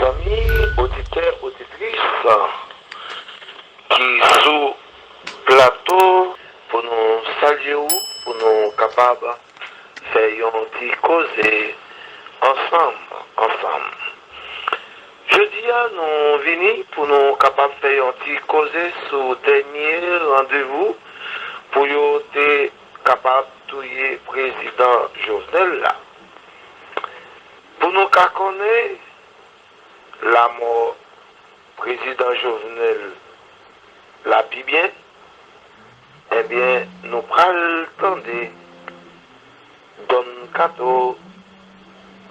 Zanmi oditè oditris ki sou plato pou nou salye ou pou nou kapab fè yon ti koze ansanm ansanm Jodi a nou vini pou nou kapab fè yon ti koze sou dènye randevou pou yo te kapab touye prezidan Jovenel la. Pou nou ka konnen lamò prezidan Jovenel la pi byen, enbyen nou pral tande Don kato.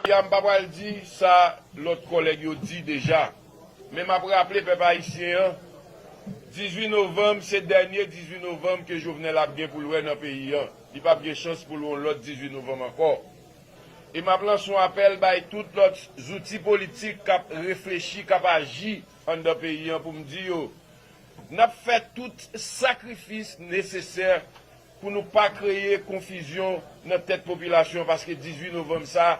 Ya m pa pral di sa lòt kòlèg yo di deja, men m ap raple pèp ayisyen an, 18 novanm se dènye 18 novanm ke Jovenel ap gen pou l wè nan peyi an, li p ap gen chans pou l wè yon lòt 18 novanm ankò. E m ap lanse yon apèl bay tout lòt zouti politik k ap reflechi, k ap aji anndan peyi an pou m di yo, n ap fè tout sakrifis nesesè pou nou pa kreye konfizyon nan tèt popilasyon an paske 18 novanm sa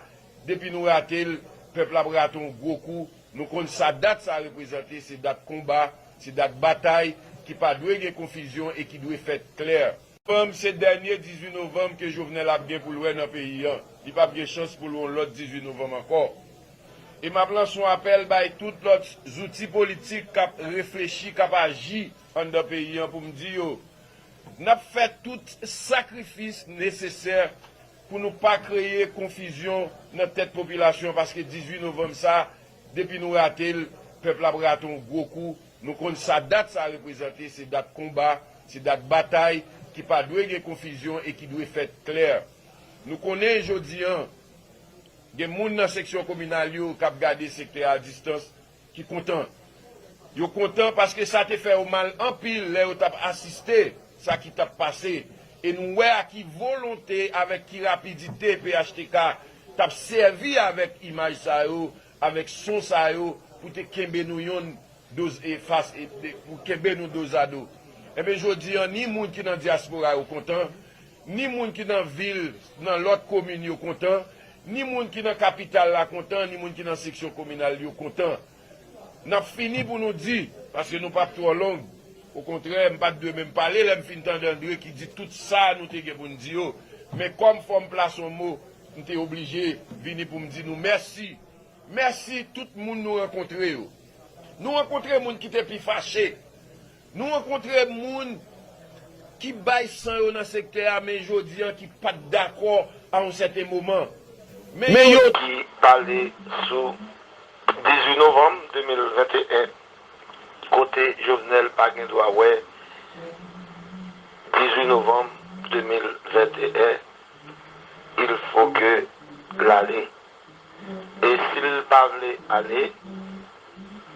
depi nou rate l pèp la ap rate yon gwo kou nou konn sa dat sa reprezante se dat konba se dat batay ki pa dwe gen konfizyon e ki dwe fèt klè. Novanm se dènye 18 novanm ke Jovenel ap gen pou l wè nan peyi an li pap gen chans pou l wè yon lòt 18 novanm ankò e map lanse yon apèl bay tout lòt zouti politik kap reflechi kap aji anndan peyi an pou m di yo N ap fè tout sakrifis nesesè pou nou pa kreye konfizyon nan tèt popilasyon paske 18 novanm sa depi nou rate l, pèp la ap rate yon gwo kou. Nou konn sa dat sa reprezante, se dat konba, se dat batay ki pa dwe gen konfizyon e ki dwe fèt klè. Nou konnen jodi an gen moun nan seksyon kominal yo k ap gade sektè a distans ki kontan. Yo kontan paske sa te fè yo mal anpil lè yo t ap asiste sa ki t ap pase e nou wè a ki volonte, avèk ki rapidite phtk t ap sèvi avèk imaj sa yo, avèk son sa yo pou te kenbe nou yonn dos e fas e pou kenbe nou dozado. Enben jodi an ni moun ki nan dyaspora yo kontan, Ni moun ki nan vil, nan lòt komin yo kontan, ni moun ki nan kapital la kontan, ni moun ki nan seksyon kominal yo kontan. N ap fini pou nou di, paske nou pap twò long, okontrè m pa t dwe menm pale lè m fin tande Andre ki di tout sa nou te gen pou n di yo, men kòm fò m plase yon mo, m te oblije vini pou m di nou mèsi. Mèsi tout moun nou rankontre yo. Nou rankontre moun ki te pi fache, Nou rankontre moun ki bay san yo nan sektè a men jodi an ki pa t dakò a yon sèten moman. Men yo. Ki pale sou 18 novanm 2021 kote Jovenel pa gen dwa wè 18 novanm 2021 il fo ke l ale E sil pa vle ale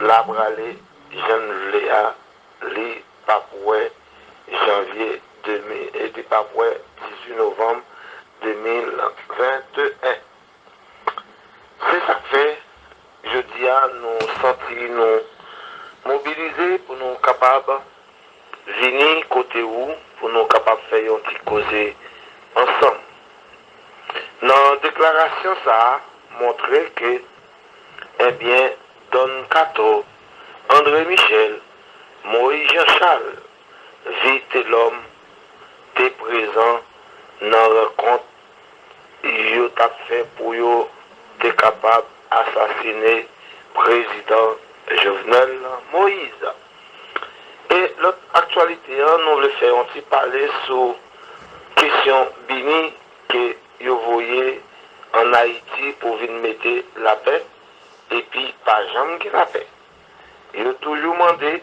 la prale jann vle a li pap wè janvye 2000 e li pap wè 18 novanm 2021 se sak fè jodia nou santi nou mobilize pou nou kapab vini kote ou pou nou kapab fè yon ti koze ansanm. Nan deklarasyon sa a montre ke ebyen Don Kato, Andre Michel, Moyiz Jan Chal, Vitelòm te prezan nan rankont yo t ap fè pou yo te kapab asasine prezidan Jovenel Moise. E lòt aktyalite an nou vle fè yon ti pale sou kesyon BINUH ke yo voye an Ayiti pou vin mete lapè epi pa janm gen lapè. Yo toujou mande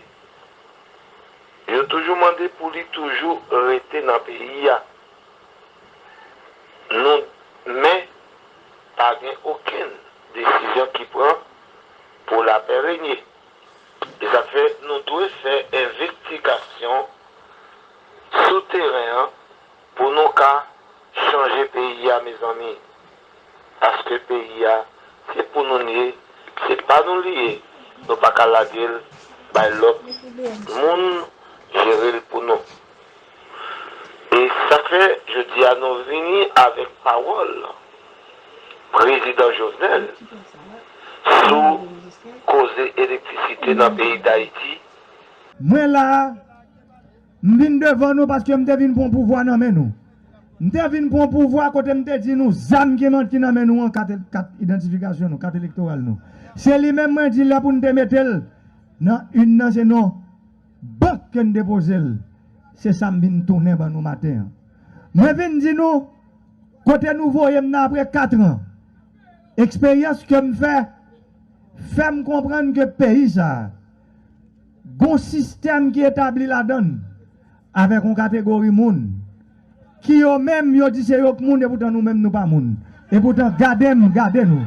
yo toujou mande pou li toujou rete nan peyi a. Nou men pa gen okenn desizyon ki pran pou lapè renye. E sa k fè nou dwe fè envestigasyon sou teren an pou nou ka chanje peyi a mezanmi. Paske peyi a se pou nou l ye, se pa nou li ye, nou pa ka lage l bay lòt moun jere l pou nou. E sa k fè jodi a nou vini avèk pawòl prezidan Jovenel sou koze elektrisite nan peyi Dayiti. Mwen la a, m vin devan nou paske m te vin pran pouvwa nan men nou. M te vin pran pouvwa kote m te di nou zam ki manti nan men nou an, kat idantifikasyon nou, kat elektoral nou. Se li menm mwen di lè pou n te mete l nan inn nan se non. Bank ke n depoze l. Se sa m vin tounen ban nou maten an. Mwen vin di nou, kote nou voye m nan apre katran, eksperyans ke m fè, fè m konprann ke peyi sa a, gon sistèm ki etabli ladan l, avèk yon kategori moun. Ki yo menm yo di se yo k moun epoutan nou menm nou pa moun epoutan gadem gade nou.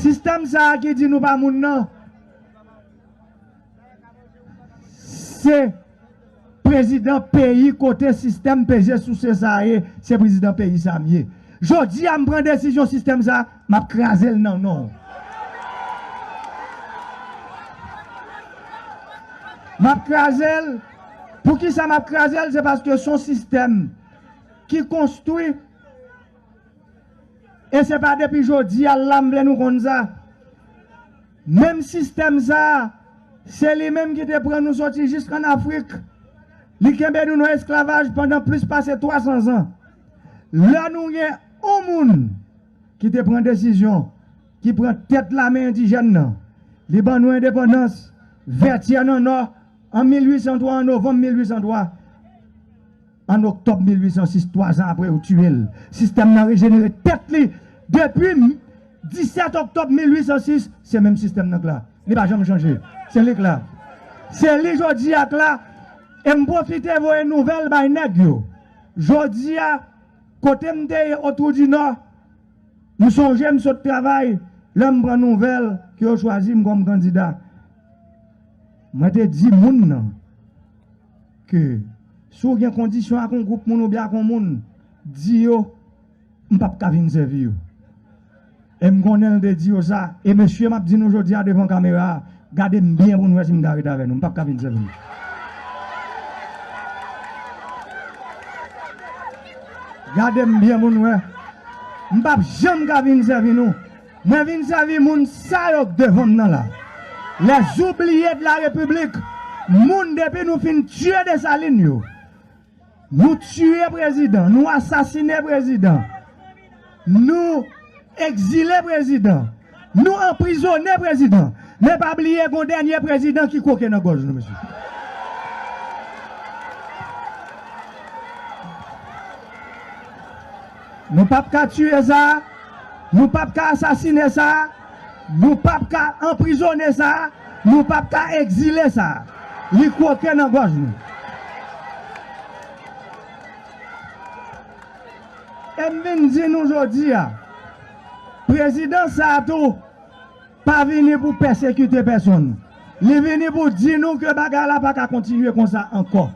Sistèm sa a ki di nou pa moun nan se prezidan peyi kote sistèm peze souse sa a ye se prezidan peyi sa a m ye. Jodi a m pran desizyon sistèm sa a. Map kraze l nan non. Map kraze l, poukisa map kraze l se paske son sistèm ki konstwi e se pa depi jodi a la m vle nou konn sa. Menm sistèm sa se li menm ki te pran nou soti jisk an Afrik, li kenbe nou nan esklavaj pandan plis pase 300 zan. Lè nou gen. On moun ki te pran desizyon, ki pran tèt lame endijèn nan, li ban nou endepandans, Vètyè nan Nò, an 1803, an novanm 1803, an oktòb 1806, twazan apre yo tiye l, sistèm nan rejenere tèt li, depi 17 oktòb 1806, se menm sistèm nan k la, li pa janm chanje, se li k la, se li jodi a k la, e m pwofite voye nouvèl bay nèg yo, jodi a. Kote m te ye Otwoudinò, m sonje m sot travay lè m pran nouvèl ke yo chwazi m kòm kandida. Mwen te di moun nan ke si w gen kondisyon ak yon gwoup moun oubyen ak yon moun, di yo m p ap ka vin sèvi yo. E m konnen l te di yo sa. E mesye m ap di nou jodi a devan kamera a, gade m byen pou nou wè si m ka ret avè nou. M p ap ka fin sèvi nou. Gade m byen pou nou wè. M p ap janm ka fin sèvi nou. Mwen vin sèvi moun sa yo k devan m nan la. Les oublies de la République, moun depi nou fin tiye Dessalines yo. Nou tiye prezidan, nou asasine prezidan, nou ekzile prezidan, nou anprizone prezidan, men pa bliye gon dènye prezidan ki kwoke nan gòj nou mesye. Nou pap ka tiye sa, nou pap ka asasine sa. Nou pap ka anprizone sa, nou pap ka egzile sa. Li kwoke nan gòj nou. E m vin di nou jodi a, prezidans sa a tou pa vini pou pèsekite pèsonn. Li vini pou di nou ke bagay la pa ka kontinye konsa ankò.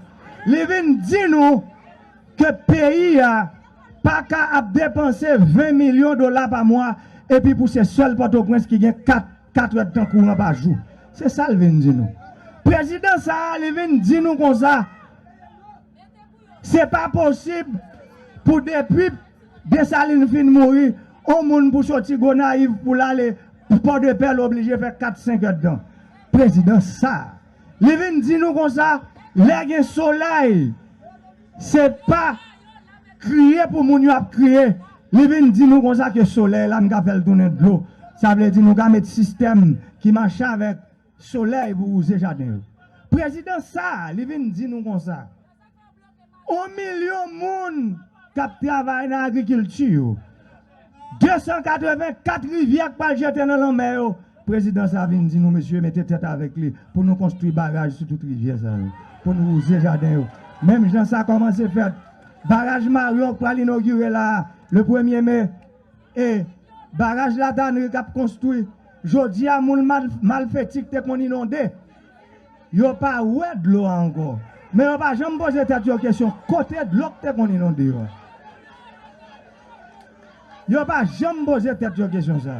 Li vin di nou ke peyi a. paka ap depanse 20 milyon dola pa mwa epi pou se sèl Pòtoprens ki gen 4 katredtan kouran pa jou. Se sa l vin di nou. Prezidan sa a li vin di nou konsa, se pa posib pou depi Desalin fin mouri, on moun pou soti Gonayiv pou l ale Pòdepè l oblije fè 4, 5 èdtan. Prezidan sa a li vin di nou konsa, lè gen solèy, Se pa kriye pou moun yo ap kriye. Li vin di nou konsa ke solèy la nou ka fè l tounen dlo. Sa vle di nou ka met sistèm ki mache avèk solèy pou wouze jaden yo. Prezidan sa a, li vin di nou konsa, On milyon moun k ap travay nan agrikilti yo. 284 rivyè k pral jete nan lanmè yo prezidan sa vin di nou mesye mete tèt avèk li pou nou konstwi baraj sou tout rivyè sa yo pou nou wouze jaden yo menm jan sa kòmanse fèt baraj maryon k pral inogire la a le premye me e baraj la tanri k ap konstwi jodi a moun malfeti k te konn inonde yo pa wè dlo a ankò men yo pa janm poze tèt yo kesyon kote dlo k te konn inonde yo a. Yo pa janm poze tèt yo kesyon sa.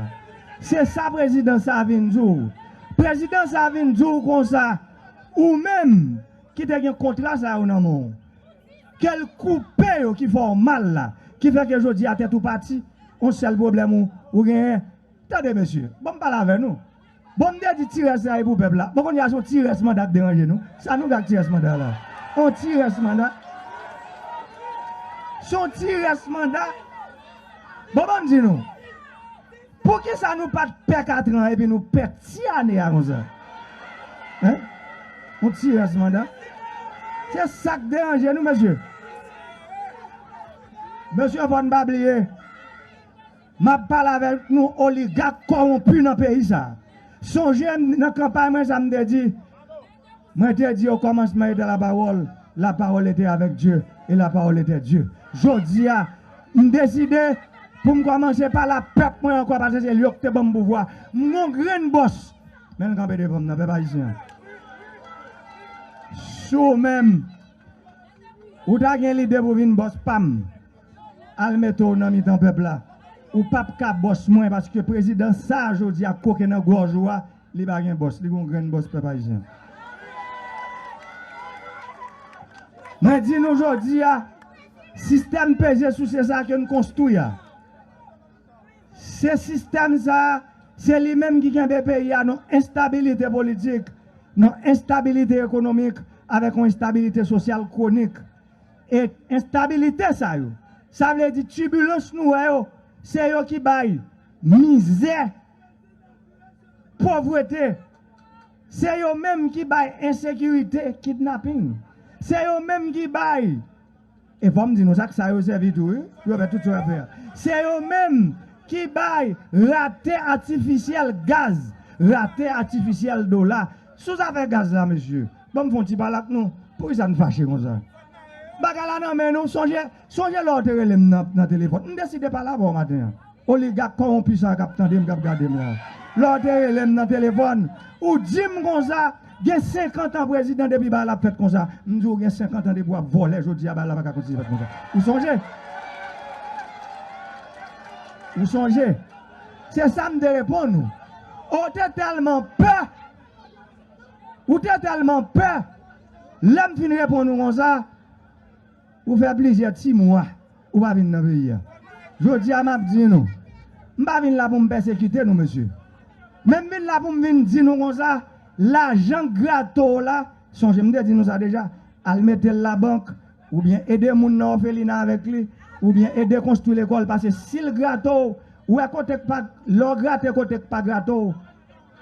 Se sa prezidan sa vin di w. Prezidan sa vin di w konsa, ou menm ki te gen kontra sa yo nan men w, ke l koupe yo ki fè w mal la, ki fè ke jodi a tèt ou pati, on sèl pwoblèm ou genyen. Tande mesye, ban m pale avè nou. Bon m te di ti rès la e pou pèp la. Bon kounye a se yon ti rès manda k deranje nou. Sa nou fè ak ti rès manda la? Yon ti rès manda? Se yon ti rès manda? Bon banm di nou. Poukisa nou pat pè katran an epi nou pè ti ane a konsa? Hein? Yon ti rès manda? Se sa k deranje nou mesye? Mesye fò n pa bliye. Map pale avek nou oligak kowonpi nan peyi sa. Sonje m nan kanpay mwen sa m te di? Mwen te di o komansman ete la pawol, la pawol ete avek Dye e la pawol ete Dye. Jodi a m deside pou m komanse pale a pep mwen anko pase se yo ki te banm pouvwa. M gon grenn bos men l kanpe devan m nan pep ayisyen an. Si w menm ou ta gen lide pou vin bos pam. Al mete w nan mitan pèp la. Ou pap ka bòs mwen paske prezidan sa a jodi a koken nan gòj ou a li pa gen bòs, li gen yon grenn bòs pèp ayisyen. Mwen di nou jodi a sistèm peze souse sa a ke n konstwi a se sistèm sa a se li menm ki kenbe peyi a nan enstabilite politik, nan enstabilite ekonomik avèk yon enstabilite sosyal kwonik. E enstabilite sa yo, sa vle di tibilans nou wè yo, se yo ki bay mizè, povrete, se yo menm ki bay ensekirite, kidnaping, se yo menm ki bay, e fò m di nou sa, ak sa yo sèvi tou wi, pou yo fè tout sa yo ap fè a, se yo menm ki bay rate atifisyèl gaz, rate atifisyèl dola. Sou zafè gaz la mesye, ban m fon ti pale ak nou, poukisa n fache konsa? Bagay la nan men nou, sonje sonje lè w te rele m nan telefòn, m deside pale avè w maten an, oligak kowonpi sa a k ap tande m, k ap gade m la a. Lè w te rele m nan telefòn, ou di m konsa, gen senkantan prezidan depi bagay la ap fèt konsa, m di w gen senkantan depi w ap vòlè jodi a bagay la pa ka kontinye fèt konsa. Ou sonje? Ou sonje? Se sa m te reponn ou. O w te tèlman pè! Ou te tèlman pè! Lè m fin reponn ou konsa, ou fè plizyè ti mwa ou pa vin nan peyi a. Jodi a m ap di nou, m pa vin la pou m pèsekite nou mesye. Men m vin la pou m vin di nou konsa, lajan grato w la, sonje m te di nou sa deja, al mete l labank, Oubyen ede moun nan òfelina avèk li, oubyen ede konstwi lekòl pase si l grate w, wè kote k pa, lè w grate kote k pa grate w,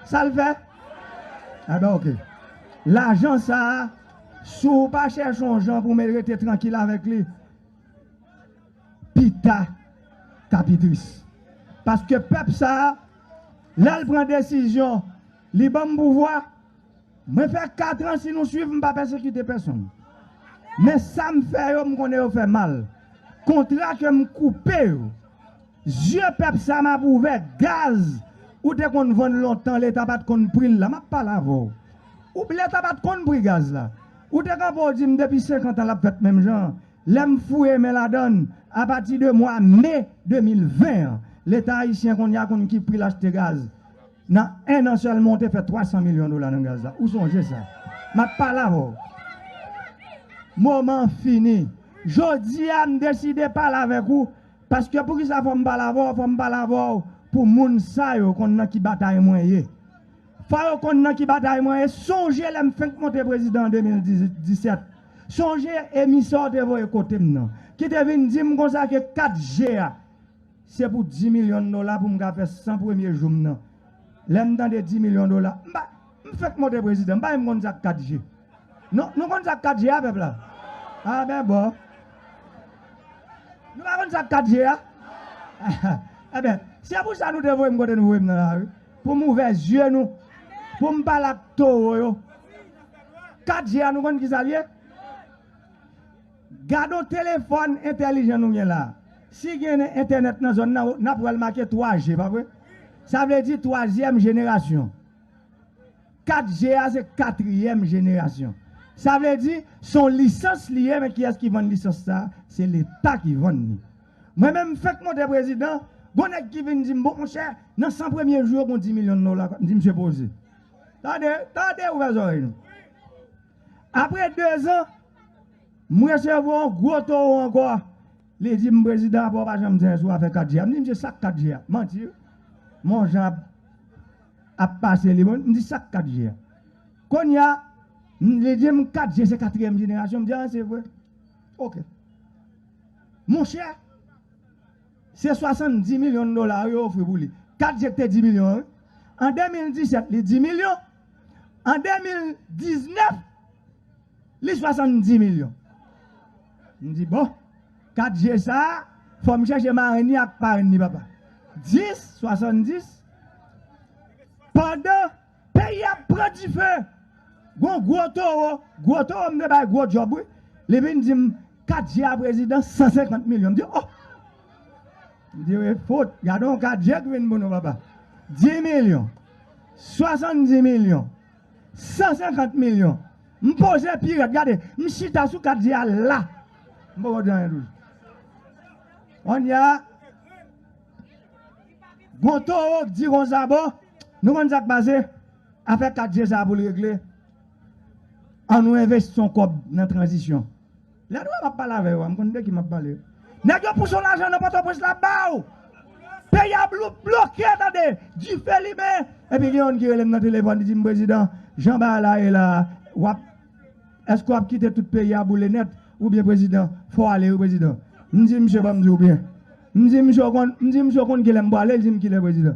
sa l fè? Enben ok. Lajan sa a, si w pa chèche yon jan pou men rete trankil avèk li, pita ta pi tris. Paske pèp sa a, lè l pran desizyon. Li banm pouvwa. Mwen fè 4 ans si nou swiv m pa pèsekite pèsonn. Men sa m fè yo m konnen yo fè mal. Kontra ke m koupe yo. Zye pèp sa m ap ouvè. Gaz ou te konn vann lontan leta pat konn pri l la m ap pale avè w. Ou leta pat konn pri gaz la. Ou te kanpe w di m depi 50 ans l ap fèt menm jan an. Lè m fouye men ladann a pati de mwa me 2020 an leta ayisyen kounye a konn ki pri l achte gaz. Nan 1 an sèlman ou te fè 300 milyon dola nan gaz la. Ou sonje sa. M ap pale avè w. Moman an fini. Jodi a m deside pale avèk ou paske poukisa fò m pale avè w, fò m pale avè w pou moun sa yo konn nan ki batay mwen ye. Fò yo konn nan ki batay mwen ye. Sonje lè m fenk monte prezidan an 2017. Sonje emisè w te voye kote m nan ki te vin di m konsa ke 4 je a. Se pou 10 milyon dola pou m ka fè 100 premye jou m nan. Lè m tande 10 milyon dola, m pa, m fèk monte prezidan, m pa menm konn sa k 4 je. Non, nou konn sa k 4 je a, pèp la? A ben bon. Nou pa konn sa k 4 je a? E ben, se pou sa nou te voye m kote nou voye m nan la wi, pou m ouvè zye nou, pou m pale ak towo yo. 4 je a nou konn ki sa l ye? Gadon telefòn entèlijan nou gen la. Si gen entènèt nan zòn nan, nap wèl make 3G pa vre? Sa vle di twazyèm jenerasyon. 4G a se katriyèm jenerasyon. Sa vle di son lisans li ye men kiyès ki vann lisans sa? Se leta ki vann li. Mwen menm m fenk monte prezidan, gon nèg ki vin dim bon monchè nan 100 premye jou yo gon 10 milyon dola kap, m di misye poze. Tande, tande ouvè zòrèy nou. Apre 2 zan. Mwen se vo yon gwo towo ankò. Li di m prezidan apa w pa janm di anyen sou afè 4G a. M di msye sak 4G a? Manti wi. Monjan ap ap pase li. M di sak 4G a? Kounye a li di m 4G se katriyèm jenerasyon. M di a se vre? Ok. Monchè se 70 milyon dola yo ofri pou li. 4G ki te 10 milyon an wi. An 2017 li 10 milyon. An 2019 Li 70 milyon. M di bon, 4 je sa, fò m chèche marenn ni ak parenn ni papa. 10, 70, pandan peyi a ap pran dife, gon gwo towo, gwo towo m te bay gwo djòb wi, li vin di m, 4 je a prezidan, 150 milyon. M di oh! M di e fout, gade yon 4 je ki vin pou nou papa. 10 milyon, 70 milyon. 150 milyon m poze pi rèd gade m chita sou kat di a la m poko di anyen toujou kounye a gon towo k di konsa bon nou konn sak pase afè kat di sa poul regle an nou envesti yon kòb nan tranzisyon. Lè nou wè map pale avè yo a m konn de ki map pale. Nèg yo pou son lajan nan pòtoprens la ba w. Peyi a bloke tande, dife limen epi gen youn ki rele m nan telefòn li di m prezidan jan bagay la ye la wap èske wap kite tout peyi a boule nèt ou byen prezidan fò w ale wi prezidan. M di misye banm di w byen. M di misye w konn kilè m pwale li di m kilè prezidan.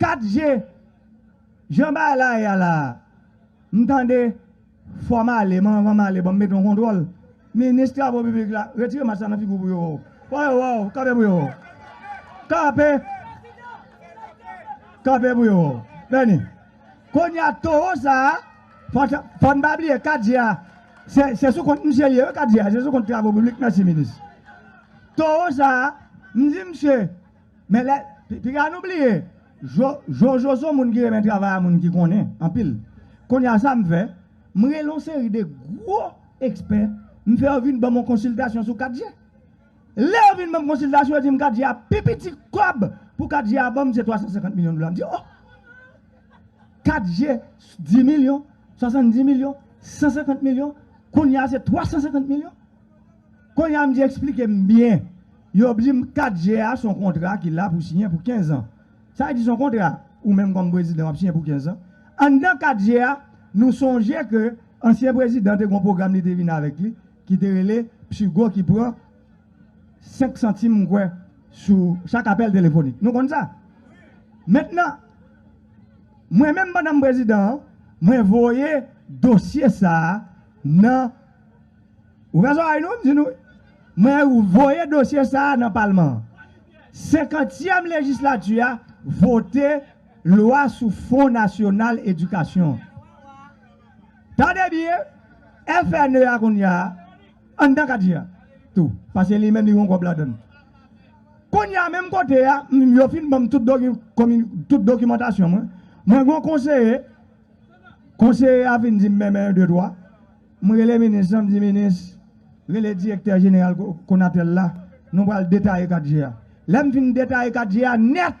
4 je Jan bagay la ye a la a M tande Fò m ale men anvan m ale ban m mete yon kontwòl Minis travo piblik la Retire mask la nan figi w pou yo wè w Fò yo wè w Kanpe pou yo wè w Kanpe Kanpe pou yo wè w Beni Kounye a towo sa a Fò n pa bliye 4 je a Se sou kont misye l ye wi 4 je a Se sou kont travo piblik Mèsi minis Towo sa a M di misye Men lè piga nou bliye jojo son moun ki renmen travay a moun ki konnen anpil kounya sa m fè m rele yon seri de gwo ekspè m fè yo vin banm yon konsiltasyon sou 4G lè yo vin banm konsiltasyon yo dim 4G a pi piti kòb pou 4G a banm se 350 milyon dola m di oh 4G 10 milyon 70 milyon 150 milyon kounya se 350 milyon Konnya mnje eksplikem byen yo bdim 4 je a son kontra ki la pou siyen pou 15 ans sa vle di son kontra ou menm kòm prezidan wap siyen pou 15 ans anndan 4 je a nou sonje ke ansyen prezidan te gon pwogram li te vin avèk li ki te rele psigo ki pran 5 santim mkwè sou chak apèl telefonik nou konn sa mentnan mwen menm pandan m prezidan an mwen voye dosye sa nan. Ouvè zòrèy nou, m di nou, mwen voye dosye sa a nan palman an. Senkantyèm lejislati a vote lwa sou fon nasyonal edikasyon an. Tande byen, FNE a kounya a, anndan kadi a tou, pase li menm li gon kòb ladann. Kounya menm kote a, yo fin ban m tout dokimantasyon mwen, mwen gon konseye, konseye a fin di m men men yon de twa, M rele minis lan, m di minis, rele direktè jeneral Konatel la, nou pral detaye 4 je a. Lè m fin detaye 4 je a nèt,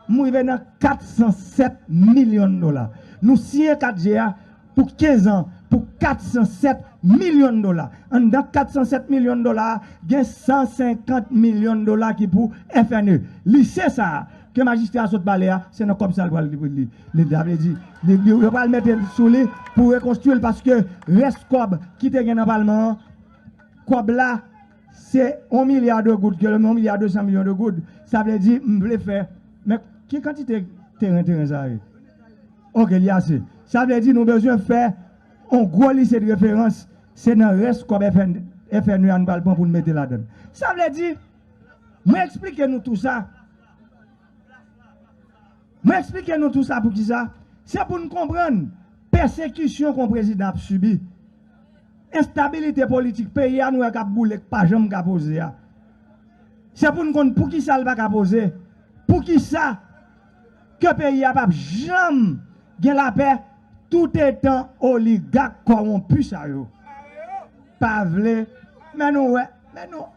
m rive nan 407 milyon dola. Nou siyen 4 je a pou 15 an pou 407 milyon dola. Anndan 407 milyon dola a, gen 150 milyon dola ki pou FNE. Lise sa a, Ke majistra sot pale a se nan kòb sa li pral li sa vle di yo pral mete sou li pou rekonstwi l paske rès kòb ki te gen nan palman an kòb la se 1 milya de goud ke lè m di 1 milya 200 milyon de goud sa vle di m vle fè men ki kantite teren teren sa ye ok li ase sa vle di nou bezwen fè yon gwo lise de referans se nan rès kòb FNE a nou pral pran pou nou mete ladan l sa vle di Mwen eksplike nou tou sa. Mwen eksplike nou tou sa pou ki sa. Se pou n konprann pèsekisyon kon prezidan ap sibi. Enstabilite politik peyi a nou wè k ap boule k pa janm ka poze a. Se pou n konn pou ki sa l pa ka poze. Pou ki sa. ke peyi a pap janm gen lapè toutetan oligak kòwonpi sa yo pa vle men nou wè men nou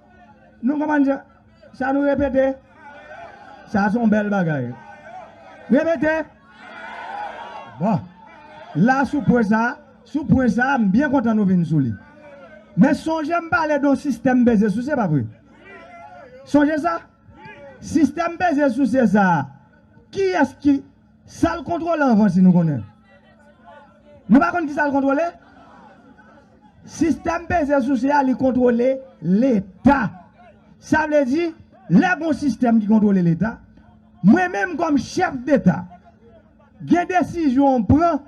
nou konprann sa sa nou repete sa son bèl bagay repete bon la sou pwen sa sou pwen sa m byen kontan nou vin sou li men sonje m pale don sistèm bèze sou se pa vre sonje sa. Sistèm peze souse sa a, kiyès ki. Sa l kontwole anvan si nou konnen? Nou pa konn ki sa l kontwole? Sistèm peze souse a li kontwole Leta. Sa vle di, lè gon sistèm ki kontwole Leta, mwen menm kòm chèf deta, gen desizyon ou pran,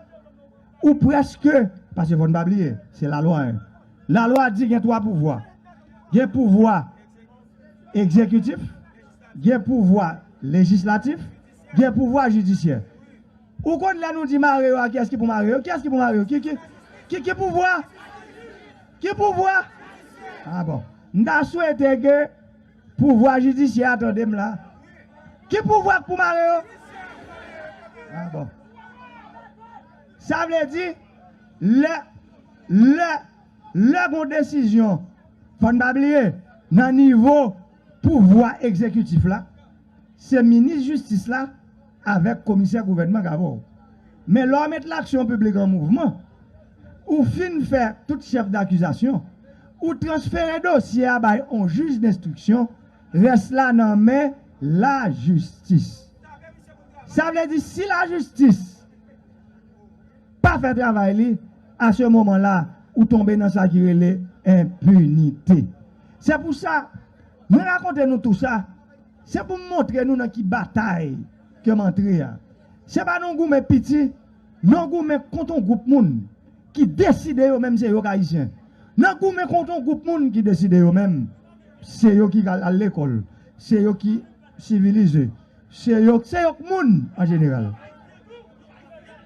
ou prèske, paske fò n pa bliye, se lalwa 1. Lalwa di gen twa pouvwa. Gen pouvwa egzekitif, gen pouvwa lejislatif, gen pouvwa jidisyè. Ou konn lè nou di mare yo a kiyès ki pou mare yo? Kiyès ki pou mare yo? Ki ki ki pouvwa? Ki pouvwa? A bon. M ta swete ke pouvwa jidisyè a tande m la. Ki pouvwa k pou mare yo? A bon. Sa vle di lè lè Lè gon desizyon, fò n pa bliye, nan nivo pouvwa egzekitif la, se minis jistis la avèk komisè gouvènman k avè w. Men lè w met laksyon piblik an mouvman, ou fin fè tout chèf dakizasyon, ou transfere dosye a bay on jij denstriksyon, rès la nan men lajistis. Sa vle di si lajistis. pa fè travay li a se moman la ou tonbe nan sa ki rele enpinite se pou sa mwen rakonte nou tou sa se pou m montre nou nan ki batay ke m antre a se pa nan goumen piti nan goumen kont yon gwoup moun ki deside yo menm se yo k ayisyen nan goumen kont yon gwoup moun ki deside yo menm se yo ki al lekòl se yo ki sivilize se yo k moun an jeneral.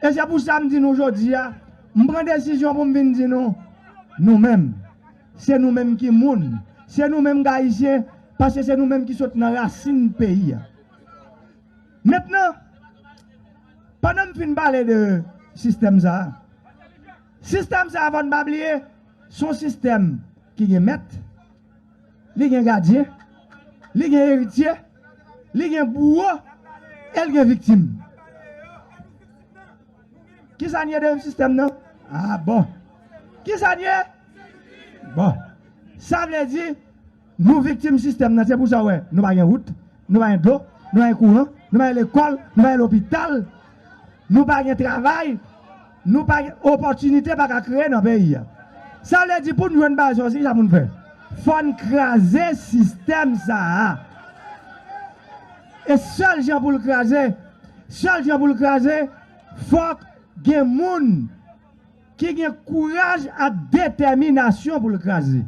E se pou sa m di nou jodi a, m pran desizyon pou m vin di nou, nou menm, se nou menm ki moun, se nou menm k Ayisyen, paske se nou menm ki sot nan rasin peyi a. Mentnan, pandan m fin pale de sistèm sa a, sistèm sa a fò n pa bliye, s on sistèm ki gen mèt, Li gen gadyen, li gen eritye, li gen bouwo e l gen viktim. Kisa n ye deyim sistèm nan? A bon! Kisa n ye? Bon! Sa vle di nou viktim sistèm nan. Se pou sa w wè nou pa gen wout, nou pa gen dlo, nou pa gen kouran, nou pa gen lekòl, nou pa gen lopital, nou pa gen travay. Nou pa gen opòtinite pa ka kreye nan peyi a. Sa vle di pou n jwenn baze yo se kisa pou n fè? Fò n kraze sistèm sa a. E sèl jan pou l kraze, sèl jan pou l kraze, fòk gen moun ki gen kouraj ak detèminasyon pou l kraze.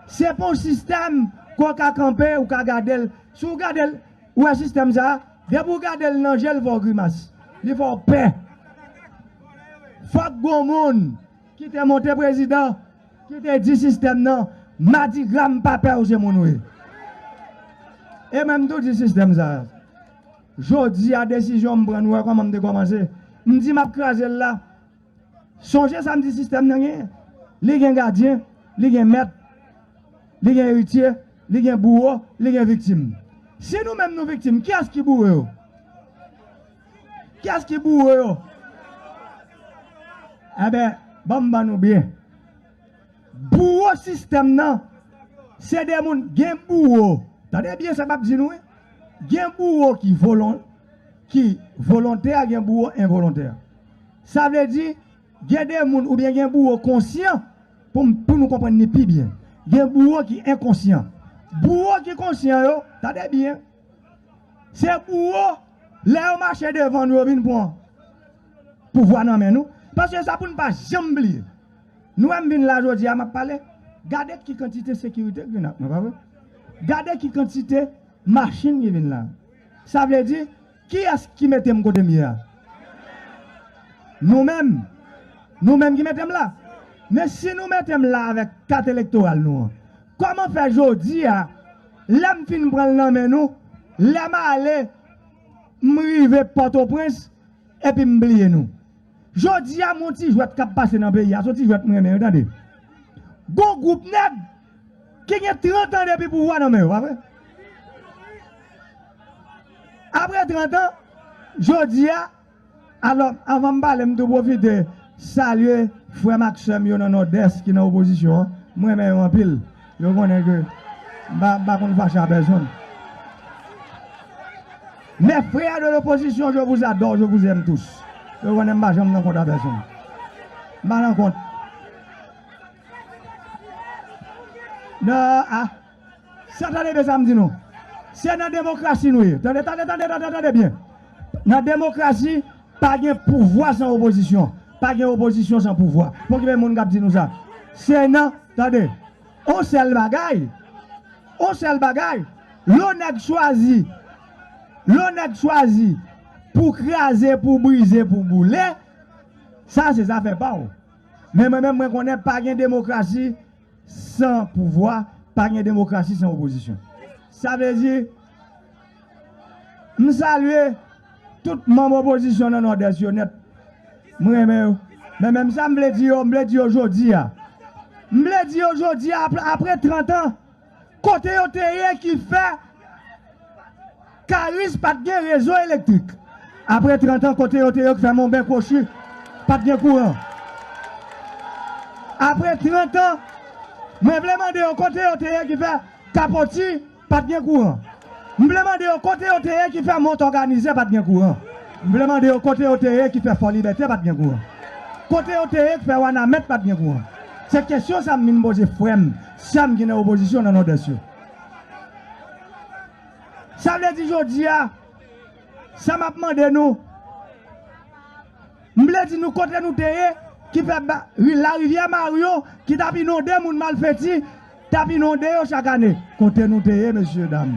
Se pa yon sistèm ke w ka kanpe, ou ka gade l. Si w gade l, ou wè sistèm sa a? Depi w gade l nan je l fè w grimas, li fè w pè. Fòk gon moun ki te monte prezidan ki te di sistèm nan madigra m pa pè w se moun w ye. E mwen m tou di sistèm sa a, jodi a desizyon m pran nou wè kòman m te kòmanse m di m ap kraze l la. Sonje sa m di sistèm nan genyen. Li gen gadyen, li gen mèt, li gen eritye, li gen bouwo, li gen viktim. Si nou menm nou viktim, kiyès ki bouwo yo? Kiyès ki bouwo yo? Enben, ban m ban nou byen. Bouwo sistèm nan, se de moun, gen bouwo, tande byen sa m ap di nou wi, gen bouwo ki volontè, gen bouwo envolontè. Sa vle di, gen de moun oubyen gen bouwo konsyan, pou m pou nou konprann ni pi byen. Gen bouwo ki enkonsyan. Bouwo ki konsyan yo, tande byen, se bouwo lè yo mache devan nou yo vin pran pouvwa nan men nou. Paske sa pou n pa janm bliye. Nou wè m vin la jodi a m ap pale, gade ki kantite sekirite k vin ak mwen, pa vre? Gade ki kantite machin ki vin la. Sa vle di, Kiyès ki mete m kote m ye a? Nou menm! Nou menm ki mete m la! Men si nou mete m la avèk kat elektoral nou an, kòman fè jodi a, lè m fin pran l nan men nou, lè m ale, m rive Pòtoprens epi m bliye nou? Jodi a m on ti jwèt k ap pase nan peyi a, s on ti jwèt m renmen wi tande. Gon gwoup nèg ki gen 30 an depi pouvwa nan men yo, pa vre? Apre 30 an, jodi a, alò avan m pale m tou pwofite salye frè m ak sè m yo nan Nòdès ki nan opozisyon an, m renmen yo anpil. Yo konnen ke m pa konn fache a pèsonn. Mes frères de l'opposition je vous adore, je vous aime tous. Yo konnen m pa janm nan kont a pèsonn. M pa nan kont. Nan a. Sa tande byen sa m di nou. Se nan demokrasi nou ye. Tande, tande, tande, tande, tande byen. Nan demokrasi. Pa gen pouvwa san opozisyon. Pa gen opozisyon san pouvwa. Pokipe moun k ap di nou sa. Se nan, tande, on sèl bagay, on sèl bagay, lè on nèg chwazi, lè on nèg chwazi pou kraze, pou brize, pou boule, sa se zafè pa ou. Men mwen menm mwen konnen pa gen demokrasi. San pouvwa, pa gen demokrasi san opozisyon. Sa vle di, m salye tout manm opozisyon nan Nòdès yo nèt. M renmen yo. Men menm sa m vle di yo, m vle di yo jodi a. M vle di yo jodi a, apre trantan, Kote yo te ye ki fè Karis pa t gen rezo elektrik? Apre trantan, kote yo te yo ki fè Monben Kwochi pa t gen kouran? Apre trantan, mwen vle mande yo kote yo te ye ki fè Kapoti pa t gen kouran? M vle mande yo kote yo te ye ki fè Mont Òganize pa t gen kouran? M vle mande yo kote yo te ye ki fè Fòlibète pa t gen kouran? Kote yo te ye ki fè Wanament pa t gen kouran? Se kesyon sa m vin poze frè m. Sam ki nan opozisyon nan Nòdès yo. Sa vle di jodi a, sa map mande nou, m vle di nou kote nou te ye ki fè larivyè Maryo ki tap inonde moun malfeti tap inonde yo chak ane. Kote nou te ye mesye dam?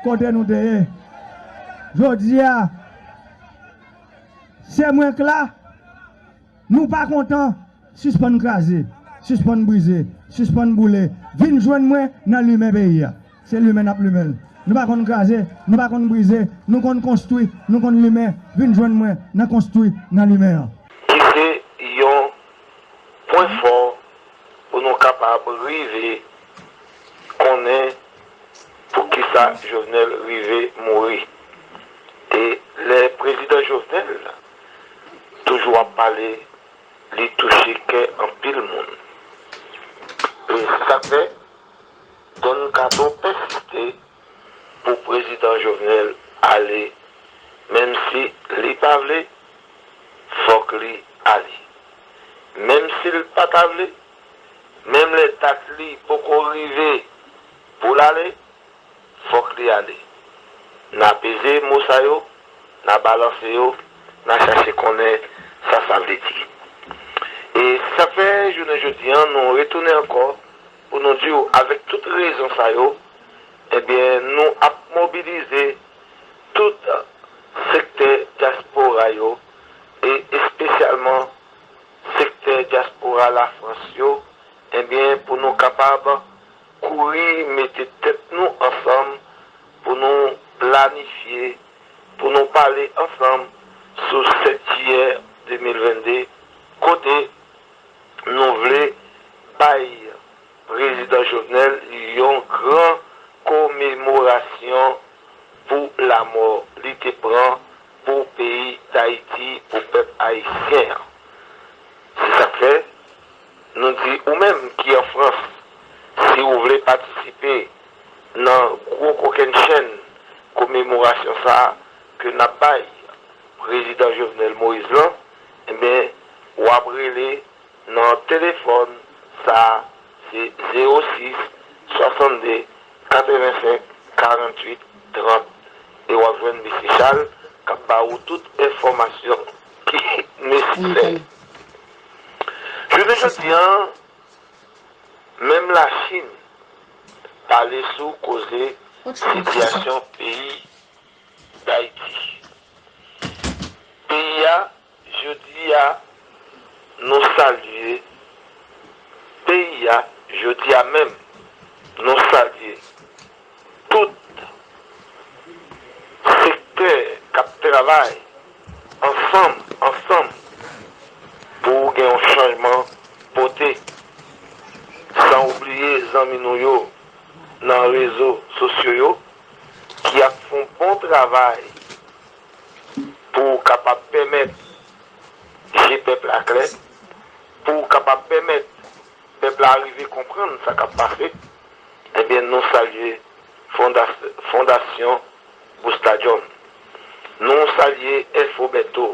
Kote nou te ye? Jodi a, se mwen k la. Nou pa kontan? Sispann kraze, sispann brize, sispann boule, vin jwenn mwen nan limen peyi a. Se limen n ap limen l. Nou pa konn kraze, nou pa konn brize, nou konn konstwi, nou konn limen, vin jwenn mwen nan konstwi, nan limen an. Ki se yon pwen fò pou nou kapab rive konnen pou ki sa Jovenel rive mouri. E lè Prezidan Jovenel toujou ap pale li touche kè anpil moun e se sak fè Don kato pèsiste pou prezidan Jovenel ale menm si li pa vle fòk li ale menm sil pa ta vle menm lè dat li poko rive poul ale fòk li ale. N a peze mo sa yo, n a balanse yo, n a chache konnen sa sa vle di. E se sa k fè jounen jodi an nou retounen ankò pou nou di w avèk tout rezon sa yo, ebyen nou ap mobilize tout sektè dyaspora yo e espesyalman sektè dyaspora Lafrans yo, ebyen pou nou kapab Kouri mete tèt nou ansanm pou nou planifye pou nou pale ansanm sou 7 jiyè 2022 kote nou vle bay Prezidan Jovenel yon gran komemorasyon pou lamò li te pran pou peyi Dayiti, pou pèp ayisyen an. Se sa k fè. Nou di ou menm ki an Frans, si ou vle patisipe nan gwo kokenn chenn komemorasyon sa a ke n ap bay Prezidan Jovenel Moïse lan, enben w ap rele nan telefòn sa a, se 06 62 85 48 30 e w ap jwenn Mesye Charles k ap ba ou tout enfòmasyon ki nesesè. Jounen jodi an, menm Lachin pale sou koze sitiyasyon peyi Dayiti. Peyi a, jodi a, nou salye peyi a, jodi a menm, nou salye. Tout sektè k ap travay ansanm ansanm pou gen yon chanjman pote, san ou bliye zanmi nou yo nan rezo sosyo yo ki ap fon bon travay pou kapab pèmèt je pèp la klè, pou kapab pèmèt. Pèp la arive konprann sa kap pase ebyen nou salye fondasyon Boustadjòm, nou salye FO Bèto,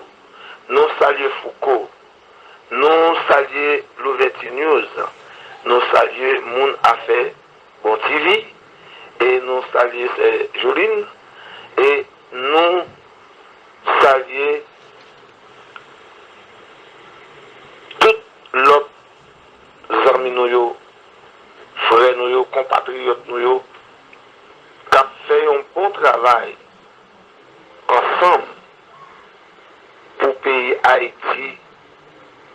nou salye Fouco, nou salye Louvèti News, nou salye moun afè Bon TV e nou salye sè Joline e nou salye tout lòt. zanmi nou yo, frè nou yo, konpatriyòt nou yo k ap fè yon bon travay ansanm pou peyi Ayiti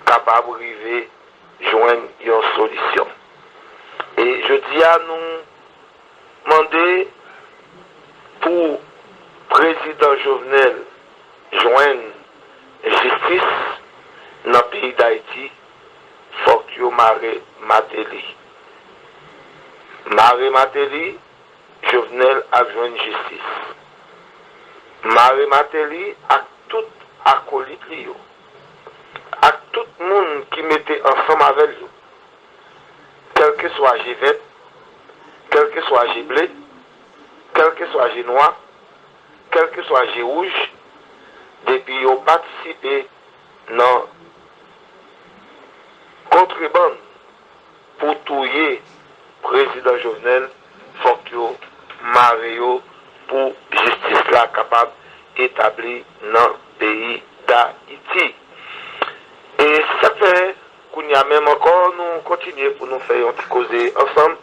kapab rive jwenn yon solisyon. E jodi a nou mande pou prezidan Jovenel jwenn jistis nan peyi Dayiti. Fok yo mare mateli. Mare mateli jovenel ap jwenn jistis. Mare mateli ak tout akolit li yo. Ak tout moun ki mete ansanm avèl yo. Kelke swa je vèt, kelke swa je ble, kelke swa je nwa, kelke swa je wouj depi yo patisipe. nan kontrebann pou touye prezidan Jovenel fòk yo mare yo pou jistis la kapab etabli nan peyi dayiti e se sak fè kounya menm ankò nou kontinye pou nou fè yon ti koze ansanm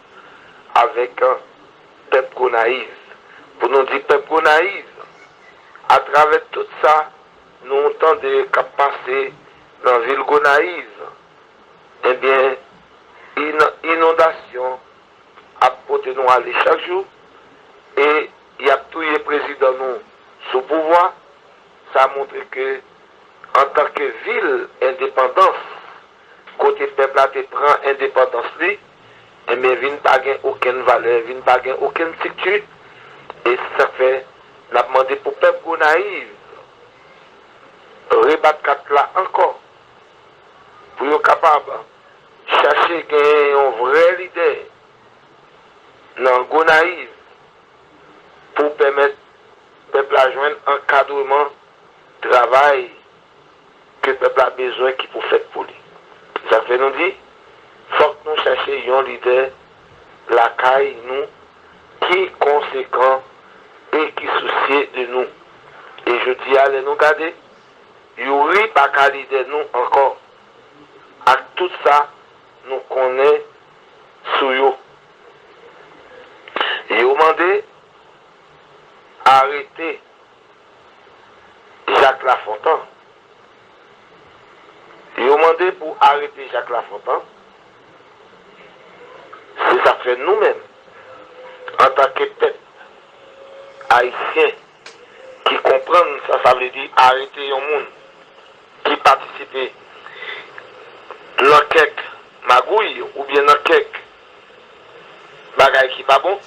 avèk pèp gonayiv pou nou di pèp gonayiv atravè tout sa Nou tande kap pase nan vil Gonayiv ebyen inondasyon ap pote nou ale chak jou e yap touye prezidan nou sou pouvwa sa montre ke antanke vil endepandans Kote pèp la te pran endepandans li, enben vin pa gen okenn valè, vin pa gen okenn strikti, e se sak fè nap mande pou pèp Gonayiv rebat kat la ankò, pou yo kapab chache genyen yon vrè lidè nan Gonayiv pou pèmèt pèp la jwenn ankadreman travay. ke pèp la bezwen ki pou fèt pou li. Se sa k fè nou di, fòk nou chache yon lidè lakay nou ki konsekan e ki sousye de nou. E jodi a lè nou gade, Youri pa ka lidè nou ankò ak tout sa nou konnen sou yo. Yo mande arete. Jacques Lafontant Yo mande pou arete Jacques Lafontant Se sa k fè nou menm antanke pèp ayisyen ki konprann sa sa vle di arete yon moun ki patisipe nan kèk magouy oubyen nan kèk Bagay ki pa bon,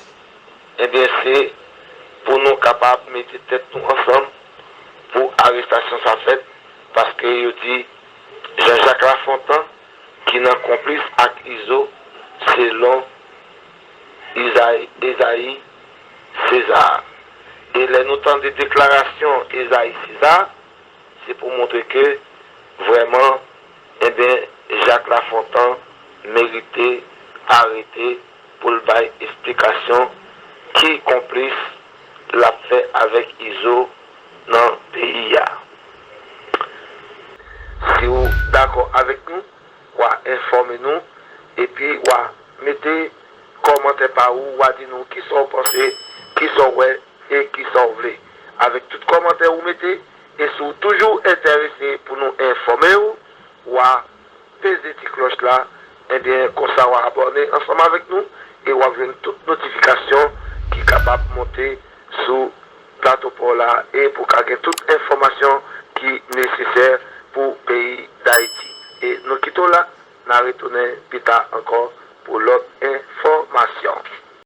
ebyen se pou nou kapab mete tèt nou ansanm pou arestasyon sa fèt paske yo di Jean Jacques Lafontant ki nan konplis ak Izo selon Esaïe César. E lè nou tande deklarasyon Esaïe César se pou montre ke vrèman Enben Jacques Lafontant merite arete poul bay esplikasyon ki konplis lap fè avèk izo nan peyi a. Siw dakò avèk nou wa enfòme nou epi wa mete kòmantè pa ou wa di nou kisa ou panse, kisa ou wè e kisa ou vle avèk tout kòmantè ou mete. E si w toujou enterese pou nou enfòme w, wa peze ti klòch la, enben konsa wa abòne ansanm avèk nou e wap jwenn tout notifikasyon ki kapab monte sou Plato Pa w la e pou w ka gen tout enfòmasyon ki nesesè pou peyi Dayiti. E nou kite w la, na retounen pita ankò pou lòt enfòmasyon.